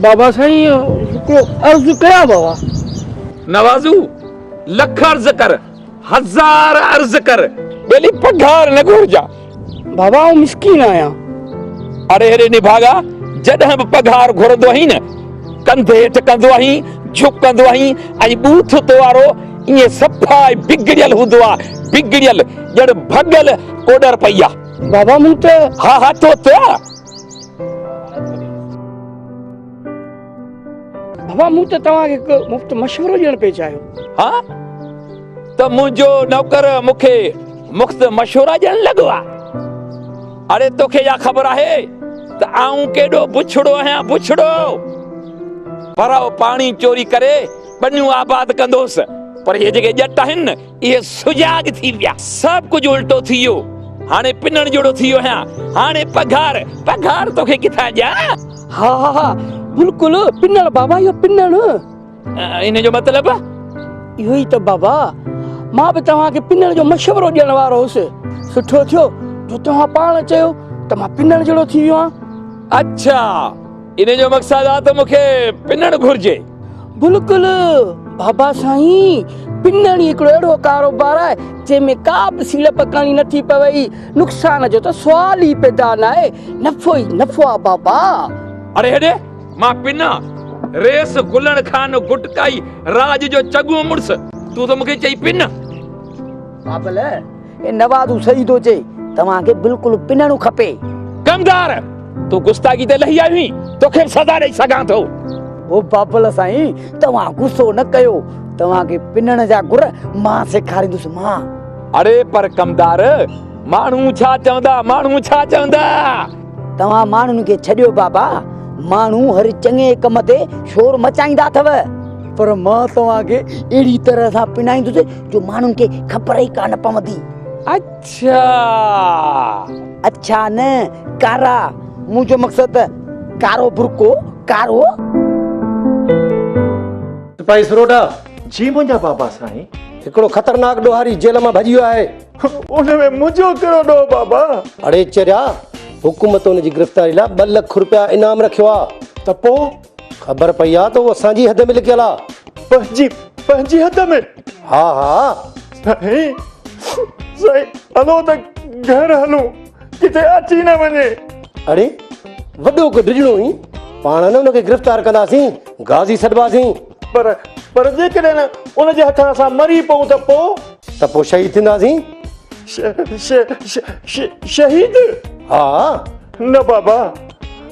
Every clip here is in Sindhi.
بابا سائين هڪڙو عرض ڪيان بابا. نوازو لک عرض ڪر هزار عرض ڪر ٻيلي پگهار نه گهرجان. بابا آئون مسڪين آهيان. اڙي اڙي نڀاڳا جڏهن به پگهار گهرندو آهين نه ڪنڌ هيٺ ڪندو آهين جهڪندو آهين ۽ ٻوٿ تو وارو ائين صفا بگڙيل هوندو آ بگڙيل ڄڻ ڀڳل ڪوڏر پئي آ. بابا مون تي ها ها تو تي بابا مون تي توهان کي هڪ مفت مشورو ڏيڻ پئي چاهيو ها ته منهنجو نوڪر مون کي مفت مشورا ڏيڻ لڳو آ اڙي توکي يا خبر آهي ته آئون ڪيڏو بڇڙو آهيان بڇڙو پر پاڻي چوري ڪري ٻنيون آباد ڪندوس پر هي جيڪي ڄٽ آهن اهي سجاڳ ٿي ويا. سڀ ڪجهه الٽو ٿي ويو. هاڻي پنڻ جهڙو ٿي ويو آهيان. هاڻي پگهار، پگهار توکي ڪٿان ڏيان؟ ها ها ها بلڪل پنڻ بابا اهو پنڻ. ان جو مطلب؟ اهو ئي ته بابا. مان به توهان کي پنڻ جو مشورو ڏيڻ وارو هوس. سٺو ٿيو جو توهان پاڻ چيو ته مان پنڻ جهڙو ٿي ويو آهيان. اڇا! ان جو مقصد آ ته مون کي پنڻ گهرجي. بلڪل بابا سائين پنڻ ئي هڪڙو اهڙو ڪاروبار آهي جنهن ۾ ڪا به سيڙپ ڪرڻي نٿي پوي نقصان جو ته سوال ئي پيدا ناهي نفعو ئي نفعو آ بابا. اڙي هيڏي مان پنڻ ريس گلڻ خان گٽڪائي راڄ جو چڱو مڙس تون ته مون کي چئي پنڻ. بابل اي نوازو صحيح ٿو چئي توهان کي بلڪل پنڻ کپي. ڪمدار تون گستاخي تي لهي آيو هين توکي به سزا ڏئي سگهان ٿو. او بابل سائين توهان غصو نه ڪيو توهان کي پنڻ جا گر مان سيکاريندس مان. اڙي پر ڪمدار ماڻهو ڇا چوندا ماڻهو ڇا چوندا. توهان ماڻهن کي ڇڏيو بابا ماڻهو هر چڱي ڪم تي شور مچائيندا اٿو. پر مان توهان کي اهڙي طرح سان پنڻائيندس جو ماڻهن کي خبر ئي ڪانه پوندي. اڇا! اڇا نه، ڪارا. مون جو مقصد ته ڪارو برقعو، ڪارو. سپاهي سروٽا! جي منهنجا بابا سائين! هڪڙو خطرناڪ ڏوهاري جيل مان ڀڄي ويو آهي. ان ۾ منهنجو ڪهڙو ڏوهه بابا! اڙي چريا! حڪومت ان جي گرفتاري لاء ٻه لک رپيا انعام رکيو آ. ته پوء؟ خبر پئي آ ته هو اسان جي حد ۾ لڪيل آ. پنهنجي پنهنجي حد ۾؟ ها ها. سائين سائين هلو ته گهر هلون ڪٿي اچي نه وڃي. اڙي وڏو ڪو ڊڄڻو هي پاڻ نه ان کي گرفتار ڪنداسين غازي سڏباسين. پر پر جيڪڏهن ان جي هٿان اسان مري پئون ته پو؟ ته پو شهيد ٿينداسين. ش ش ش شهيد؟ ها. نه بابا.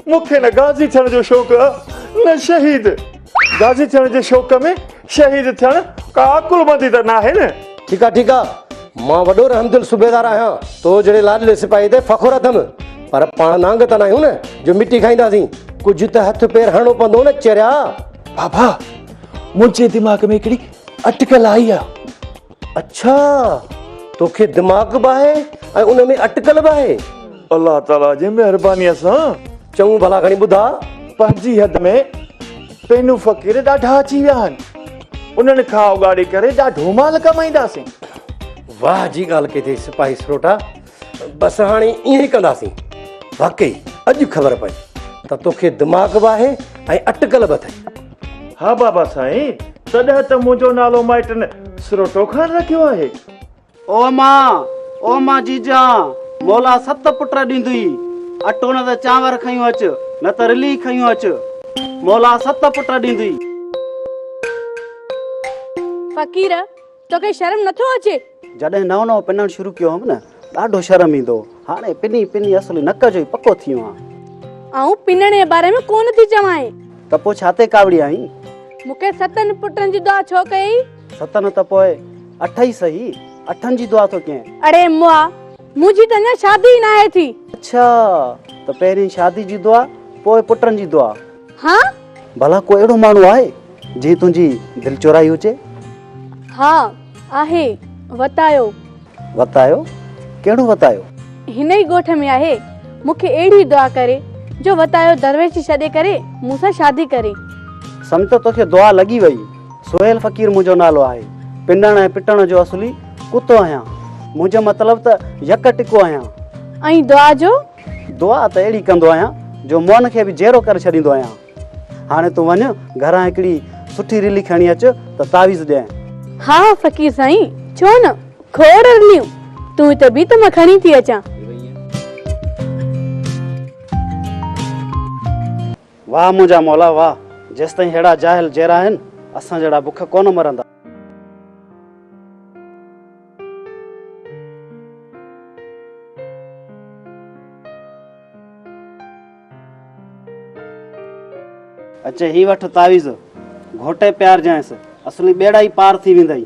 مون کي نه غازي ٿيڻ جو شوق ا نه شهيد. غازي ٿيڻ جي شوق ۾ شهيد ٿيڻ ڪا عقلمندي ته ناهي نه. ٺيڪ آ ٺيڪ آ مان وڏو رحمدل صوبيدار آهيان تو جهڙي لاڏلي سپاهي تي فخر اٿم پر پاڻ نانگ ته ناهيون نه جو مٽي کائينداسين ڪجهه ته هٿ پير هڻڻو پوندو نه چريا. بابا منهنجي دماغ ۾ هڪڙي اٽڪل آئي آ. اڇا توکي دماغ به آهي ۽ ان ۾ اٽڪل به آهي. الله تعاليٰ جي مهربانيء سان. چڱو ڀلا کڻي ٻڌاء. پنهنجي حد ۾ پينو فقير ڏاڍا اچي ويا آهن. انهن کان اوڳاڙي ڪري ڏاڍو مال ڪمائينداسين. واهه جي ڳالهه ڪئي اٿئي سپاهي سروٽا. بس هاڻي ائين ئي ڪنداسين. واقعي اڄ خبر پئي ته توکي دماغ به آهي ۽ اٽڪل به اٿئي. ها بابا سائين، تڏهن ته منهنجو نالو مائٽن سروٽو خان رکيو آهي. او امان، او امان جيجان، مولا ست پٽ ڏيندئي. اٽو نه ته چانور کنيو اچ، نه ته رلي کنيو اچ. مولا ست پٽ ڏيندئي. فقير، توکي شرم نٿو اچي. جڏهن نئون نئون پنڻ شروع ڪيو هئم نه ڏاڍو شرم ايندو هو. هاڻي پني پني اصل نڪ جو ئي پڪو ٿي ويو آهيان. آئون پنڻ جي باري ۾ ڪونه ٿي چوانء. ته پوء ڇا تي ڪاوڙي آهين؟ مونکي ستن پٽن جي دعا ڇو ڪيئي؟ ست نه ته پوء اٺ ئي سهي. اٺن جي دعا ٿو ڪيئن؟ اڙي مئا! منهنجي ته اڃا شادي ئي ناهي ٿي. اڇا! ته پهرين شادي جي دعا پوء پٽن جي دعا. ها. ڀلا ڪو اهڙو ماڻهو آهي جنهن تنهنجي دل چورائي هجي؟ ها آهي. وتايو. وتايو؟ ڪهڙو وتايو؟ هن ئي ڳوٺ ۾ آهي. مون کي اهڙي دعا ڪري جو وتايو درويش جي ڇڏي ڪري مون سان شادي ڪري. سمت توکي دعا لڳي وئي. سهيل فقير منهنجو نالو آهي. پنڻ ۽ پٽڻ جو اصلي ڪتو آهيان. منهنجو مطلب ته يڪ ٽڪو آهيان. ۽ دعا جو؟ دعا ته اهڙي ڪندو آهيان جو موهن کي به جيئرو ڪري ڇڏيندو آهيان. هاڻي تون وڃ گهران هڪڙي سٺي رلي کڻي اچ ته تعويذ ڏيانء. ها ها فقير سائين ڇو نه کوڙ رليون تون هتي بيهه ته مان کڻي ٿي اچان. واهه منهنجا مولا واهه جيستائين ههڙا جاهل جيئرا آهن اسان جهڙا بک ڪونه مرندا. اچي هي وٺ تعويذ، گهوٽي پيارجانئس، اصلي ٻيڙا ئي پار ٿي ويندئي.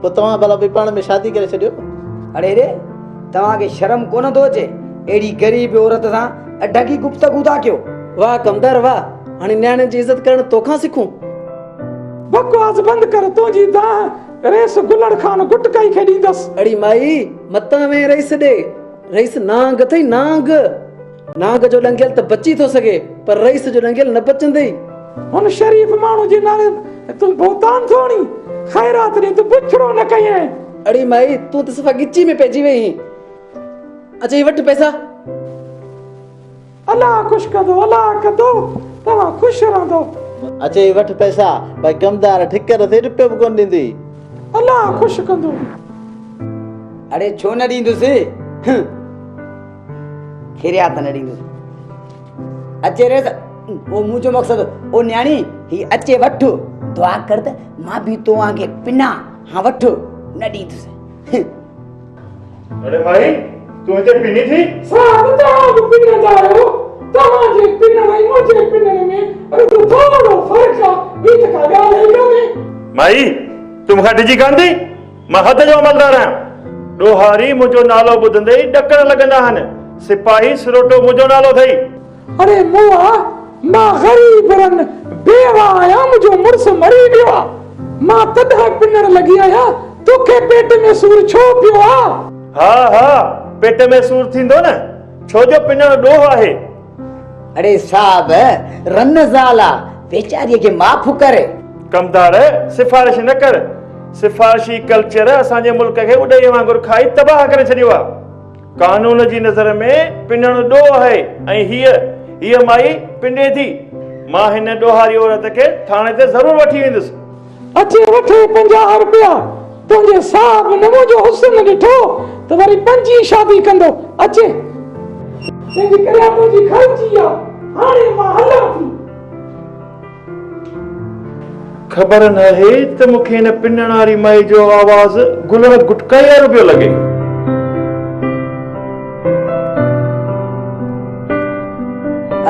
پوء توهان ڀلا ٻئي پاڻ ۾ شادي ڪري ڇڏيو. اڙي ري! توهان کي شرم ڪونه ٿو اچي؟ اهڙي غريب عورت سان اڍڪي گفتگو ٿا ڪيو. واه ڪمدار واه! هاڻي نياڻين جي عزت ڪرڻ تو کان سکون. بڪواس بند ڪر تنهنجي دانهن رئيس گلڙ خان گٽڪائي کي ڏيندس. اڙي مائي! متان ويهه رئيس ڏي. رئيس نانگ اٿئي نانگ. نانگ جو ڏنگيل ته بچي ٿو سگهي پر رئيس جو ڏنگيل نه بچندي. هن شريف ماڻهو جي نالي تون بهتان ٿو آڻين. خيرات ڏينهن تون بڇڙو نه ڪيئين. اڙي مائي تون ته صفا ڳچي ۾ پئجي وئي هين. اچ هي وٺ پئسا. الله خوش ڪندو الله ڪندو توهان خوش رهندو. اچ هي وٺ پئسا. بئي ڪمدار ٺڪر ٿي رپيو به ڪونه ڏيندي. الله خوش ڪندو. اڙي ڇو نه ڏيندس. هه. کيريا ته نه ڏيندس اچي ريس او منهنجو مقصد او نياڻي هي اچي وٺ دعا ڪر ته مان به توهان کي پنا ها وٺ نه ڏيندس اڙي مائي تون هتي پني ٿي سان توهان به پني ٿا رهو توهان جي پنن ۽ منهنجي پنن ۾ رڳو ٿورو فرق آ ٻي ته ڪا ڳالهه ئي ڪانهي مائي تون مونکان ڊڄي ڪانه ٿي مان حد جو عملدار آهيان. ڏوهاري منهنجو نالو ٻڌندي ئي ڏڪڻ لڳندا آهن. سپاهي سروٽو منهنجو نالو اٿئي. اڙي موئا، مان غريب رن بيوه آهيان، منهنجو مڙس مري ويو آ. مان تڏهن پنڻ لڳي آهيان، توکي پيٽ ۾ سور ڇو پيو آ؟ ها ها، پيٽ ۾ سور ٿيندو نه، ڇو جو پنڻ ڏوهه آهي. اڙي صاحب رن زال آ ويچاري کي معاف ڪر. ڪمدار سفارش نه ڪر سفارشي ڪلچر اسان جي ملڪ کي اڏهي وانگر کائي تباهه ڪري ڇڏيو آ قانون جي نظر ۾ پنڻ ڏوهه آهي ۽ هيء هيء مائي پنڊي ٿي مان هن ڏوهاري عورت کي ٿاڻي تي ضرور وٺي ويندس. اچي وٺي پنجاهه روپيا تنهنجي صاحب نه منهنجو حسن ڏٺو ته وري پنجين شادي ڪندو اچي. تنهنجي ڪري آ منهنجي گهر جي آ هاڻي مان هلان ٿي. خبر ناهي ته مون کي هن پنڻاري مائي جو آواز گلڻ گٽڪائي وارو پيو لڳي.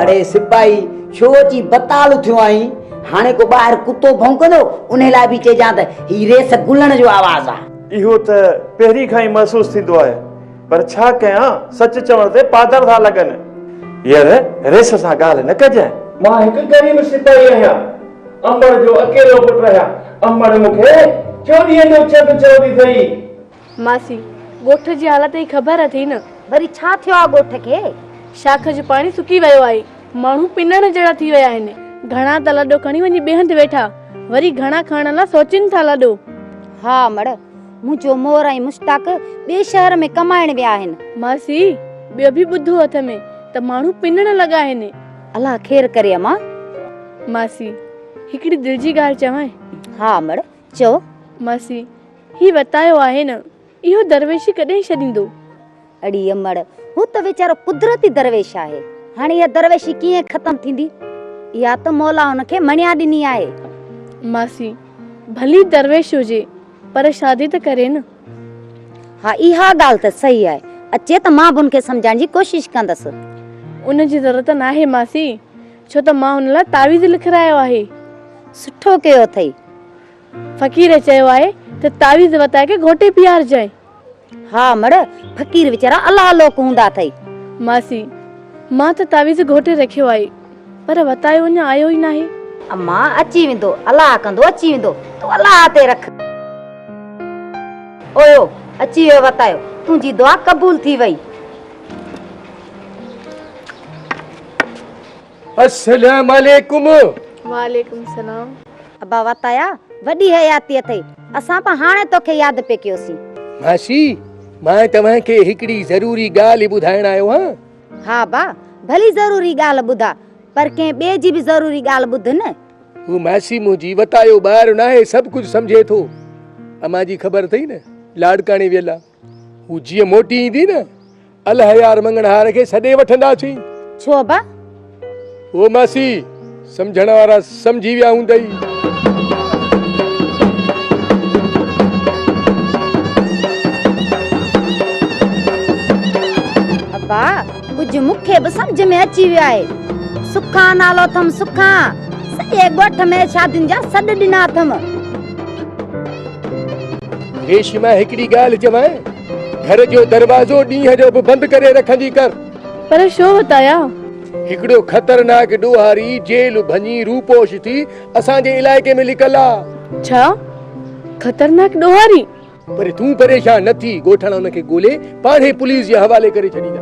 اڙي سپاهي ڇو اچي بتال اٿيو آهين؟ هاڻي ڪو ٻاهر ڪتو ڀونڪندو، انهي لاء به چئجان ته هي ريس گلڻ جو آواز آهي. اهو ته پهرين کان ئي محسوس ٿيندو آهي، پر ڇا ڪيان، سچ چوڻ تي پادر ٿا لڳن. ير، ريس سان ڳالهه نه ڪجانء. مان هڪ غريب سپاهي آهيان، امڙ جو اڪيلو پٽ آهيان. امڙ مون کي چوڏهينء جو چڀ چوندي اٿئي. ماسي، ڳوٺ جي حالت ئي خبر اٿئي نه. وري ڇا ٿيو آ ڳوٺ کي؟ شاخ جو پاڻي سڪي ويو آهي. ماڻهو پنڻ جهڙا ٿي ويا آهن. گهڻا ته لڏو کڻي وڃي بيهه هنڌ ويٺا. وري گهڻا کڻڻ لا سوچين ٿا لڏو. ها مڙ، منهنجو مور ۽ مشتاق ٻئي شهر ۾ ڪمائڻ ويا آهن. ماسي، ٻيو به ٻڌو اٿ م ته ماڻهو پنڻ لڳا آهن. الله خير ڪري امان. ماسي، هڪڙي دل جي ڳالهه چوانء. ها مڙ، چئو. ماسي، هي وتايو آهي نه، اهو درويشي ڪڏهن ڇڏيندو؟ اڙي امڙ، هو ته ويچارو قدرتي درويش آهي، هاڻي اها درويشي ڪيئن ختم ٿيندي؟ اها ته مولا هن کي مڻيا ڏني آهي. ماسي، ڀلي درويش هجي، پر شادي ته ڪري نه. ها، اها ڳالهه ته صحيح آهي. اچي ته مان به هن کي سمجهائڻ جي ڪوشش ڪندس. ان جي ضرورت ناهي ماسي، ڇو ته مان هن لاء تعويذ لکرايو آهي. سٺو ڪيو اٿئي. فقير چيو آهي ته تعويذ وتائي کي گهوٽي پيارجانء. ها مڙ، فقير ويچارا الله لوڪ هوندا اٿئي. ماسي، مان ته تعويذ گهوٽي رکيو آهي، پر وتايو اڃا آيو ئي ناهي. اما، اچي ويندو، الله ڪندو اچي ويندو، تون الله تي رک. اوهو، اچي ويو وتايو، تنهنجي دعا قبول ٿي وئي. السلام عليڪم وعليڪم السلام ابا واتايا وڏي حياتي اٿئي اسان به هاڻي توکي ياد پئي ڪيوسين ماسي مان توهان کي هڪڙي ضروري ڳالهه ٻڌائڻ آيو آهيان ها ابا ڀلي ضروري ڳالهه ٻڌاء پر ڪنهن ٻئي جي به ضروري ڳالهه ٻڌ نه هو ماسي منهنجي واتايو ٻار ناهي سڀ ڪجهه سمجهي ٿو امان جي خبر اٿئي نه لاڙڪاڻي ويل آهي هو جيئن موٽي ايندي نه الهيار مڱڻهار کي سڏي وٺنداسين. ڇو ابا؟ هو ماسي سمجهڻ وارا سمجهي ويا هوندئي. ڪجهه مون کي به سمجھ ۾ اچي ويو آهي سکا نالو اٿم سکا سڄي ڳوٺ ۾ شادين جا سڏ ڏنا اٿم ريشما هڪڙي ڳالهه چوانء، گهر جو دروازو ڏينهن جو به بند ڪري رکندي ڪر. پر شو وتايا؟ هڪڙو خطرناڪ ڏوهاري جيل ڀڃي روپوش ٿي اسان جي علائقي ۾ لڪل آ. ڇا؟ خطرناڪ ڏوهاري؟ پر تون پريشان نه ٿي، ڳوٺاڻا ان کي ڳولي پاڻ ئي پوليس جي حوالي ڪري ڇڏيندا.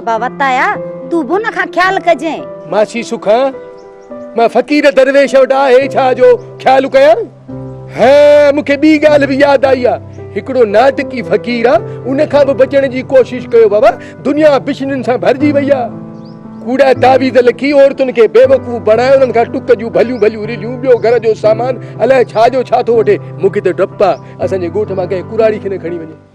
ابا وتايا، تون به ان کان خيال ڪجين. ماسي سکان، مان فقير درويش وٽ آهي ڇا جو خيال ڪيان؟ ها مون کي ٻي ڳالهه به ياد آئي آ هڪڙو ناٽڪي فقير آ ان کان به بچڻ جي ڪوشش ڪيو بابا دنيا بشنين سان ڀرجي وئي آ ڪوڙا تعويذ لکي عورتن کي بيوقوف بڻائي انهن کان ٽڪ جون ڀليون ڀليون رليون ٻيو گهر جو سامان الائي ڇا جو ڇا ٿو وٺي مون کي ته ڊپ آ اسان جي ڳوٺ مان ڪنهن ڪراڙي کي نه کڻي وڃي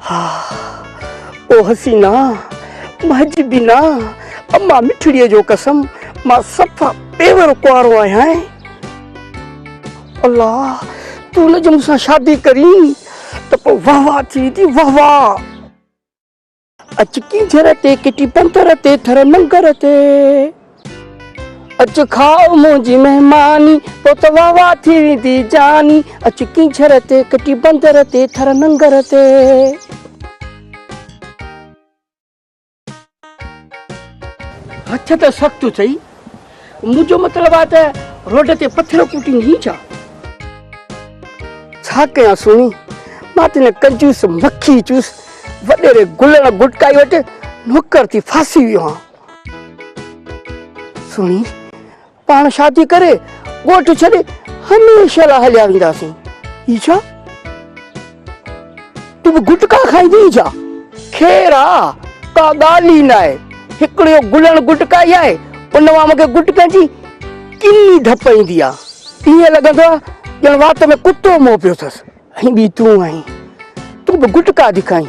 ها او حسينا منهنجي بينا اما مٺڙي جو قسم مان صفا پيور ڪنوارو آهيان الله تون نه جو مون سان شادي ڪرين ته پوء واهوا ٿي ٿي واهوا اچ ڪينجهر تي ڪٽي پنڌر تي ٿر ننگر تي اچ کاء منهنجي مهماني پوء ته واهه واهه ٿي ويندي جاني اچ ڪينجهر تي ڪٽي پنڌر تي ٿر ننگر تي هٿ ته سخت چئي منهنجو مطلب آ ته روڊ تي پٿر ڪوٽين هين ڇا؟ ڇا ڪيان سهڻي، مان ته هن ڪنجوس مکي چوس وڏيري گلڻ گٽڪائي وٽ نوڪر ٿي ڦاسي ويو هان. سهڻي، پاڻ شادي ڪري ڳوٺ ڇڏي هميشه لاء هليا وينداسين. هي ڇا؟ تون به گٽڪا کائيندي ئي ڇا؟ خير آ، ڪا ڳالهه ئي ناهي. هڪڙو اهو گلڻ گٽڪائي آهي، ان مان مونکي گٽڪن جي ڪني ڌپ ايندي آ. ائين لڳندو آ ڄڻ وات ۾ ڪتو مئو پيو اٿس. ۽ ٻي تون آهين، تون به گٽڪا ٿي کائين.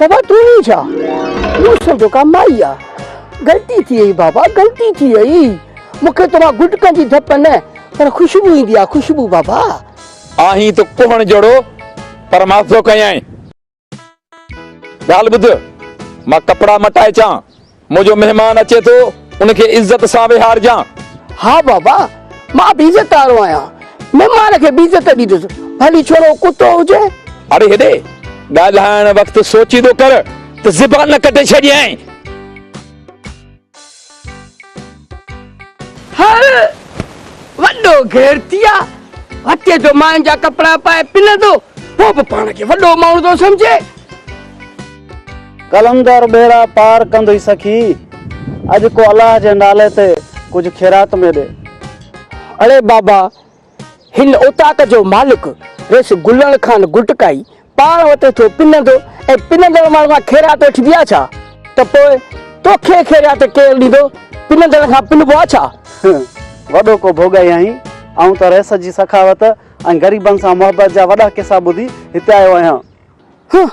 بابا تون ئي ڇا مون سمجهيو ڪا مائي آ غلطي ٿي وئي بابا غلطي ٿي وئي مون کي توهان گٽڪن جي ڌپ نه پر خوشبو ايندي آ خوشبو بابا آهين ته ڪوهڻ جهڙو پر مان ٿو ڪيائين ڳالهه ٻڌ مان ڪپڙا مٽائي اچان منهنجو مهمان اچي ٿو، ان کي عزت سان ويهارجان. ها بابا، مان به عزت وارو آهيان. مهمان کي به عزت ڏيندس، ڀلي ڇوڙو ڪتو هجي. اڙي هيڏي، ڳالهائڻ وقت سوچيندو ڪر ته زبان نه ڪٽي ڇڏينء. هڙ، وڏو غيرتي آ، وتيء جو ماين جا ڪپڙا پائي پنندو، پوء به پاڻ کي وڏو ماڻهو ٿو سمجهي. قلندر ٻيڙا پار ڪندي سخي اڄ ڪو الله جي نالي تي ڪجهه خيرات ۾ ڏي. اڙي بابا هن اوطاق جو مالڪ رئيس گلڻ خان گٽڪائي پاڻ وٽ ٿو پنندو ۽ پنندڙ ماڻهن کان خيرات وٺبي آ ڇا؟ ته پوء توکي خيرات ڪير ڏيندو؟ پنندڙن کان پنبو آ ڇا؟ هه وڏو ڪو ڀوڳائي آهين. آئون ته رئيس جي سخاوت ۽ غريبن سان محبت جا وڏا قصا ٻڌي هتي آيو آهيان. هه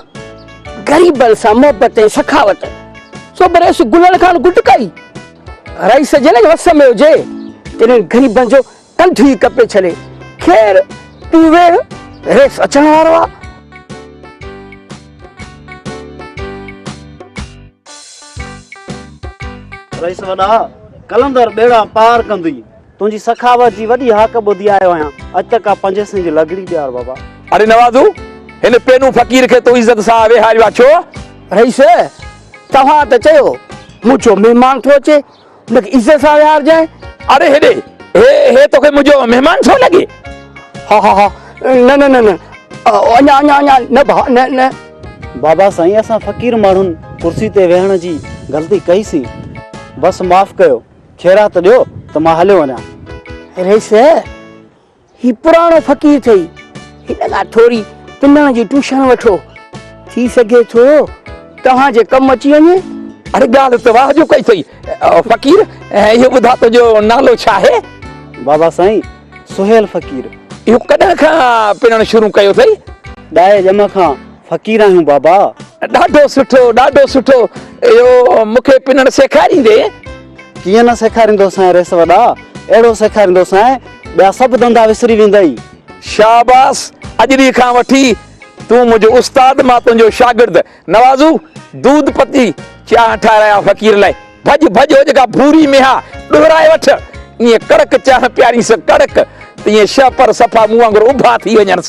غريبن سان محبت ۽ سخاوت سو به رئيس گلڻ خان گٽڪائي رئيس جنهن جي وس ۾ هجي تنهن غريبن جو ڪنڌ ئي ڪپي ڇڏي خير تون ويهه رئيس اچڻ وارو آ. رئيس وڏا قلندر ٻيڙا پار ڪندي. تنهنجي سخاوت جي وڏي هاڪ ٻڌي آيو آهيان. اڄ ته ڪا پنج سين جي لغڙي ڏيار بابا. اڙي نوازو! هن پينو فقير کي تو عزت سان ويهاريو آهي ڇو؟ رئيس! توهان ته چيو منهنجو مهمان ٿو اچي، هن کي عزت سان ويهارجانء. اڙي هيڏي! هي هي توکي منهنجو مهمان ٿو لڳي؟ ها ها ها! نه نه نه نه! اڃا اڃا اڃا نه ڀاء نه نه! بابا سائين اسان فقير ماڻهن ڪرسي تي ويهڻ جي غلطي ڪئي سين. بس معاف ڪيو. خيرات ڏيو ته مان هليو وڃان. ريس، هي پراڻو فقير ٿئي، هن کان ٿوري پنڻ جي ٽوشڻ وٺو، ٿي سگهي ٿو توهان جي ڪم اچي وڃي. اڙي ڳالهه ته واهه جو ڪئي اٿئي فقير، اهو ٻڌاء تنهنجو نالو ڇا آهي؟ بابا سائين، سهيل فقير. اهو ڪڏهن کان پنڻ شروع ڪيو اٿئي؟ ڏهائي ڄم کان. فقير آهيون بابا. ڏاڍو سٺو ڏاڍو سٺو اهو مون کي پنڻ سيکاريندين. ڪيئن نه سيکاريندوسانء ريس وڏا اهڙو سيکاريندوسانء ٻيا سڀ ڌنڌا وسري ويندئي. شاباس اڄ ڏينهن کان وٺي تون منهنجو استاد مان تنهنجو شاگرد نوازو دود پتي چانهه ٺاهرايان فقير لاء ڀڄ ڀڄ هو جيڪا ڀوري ميها ڏهرائي وٺ ائين ڪڙڪ چانهه پيارينس ڪڙڪ ته ائين شهپر صفا مون وانگر اڀا ٿي وڃنس.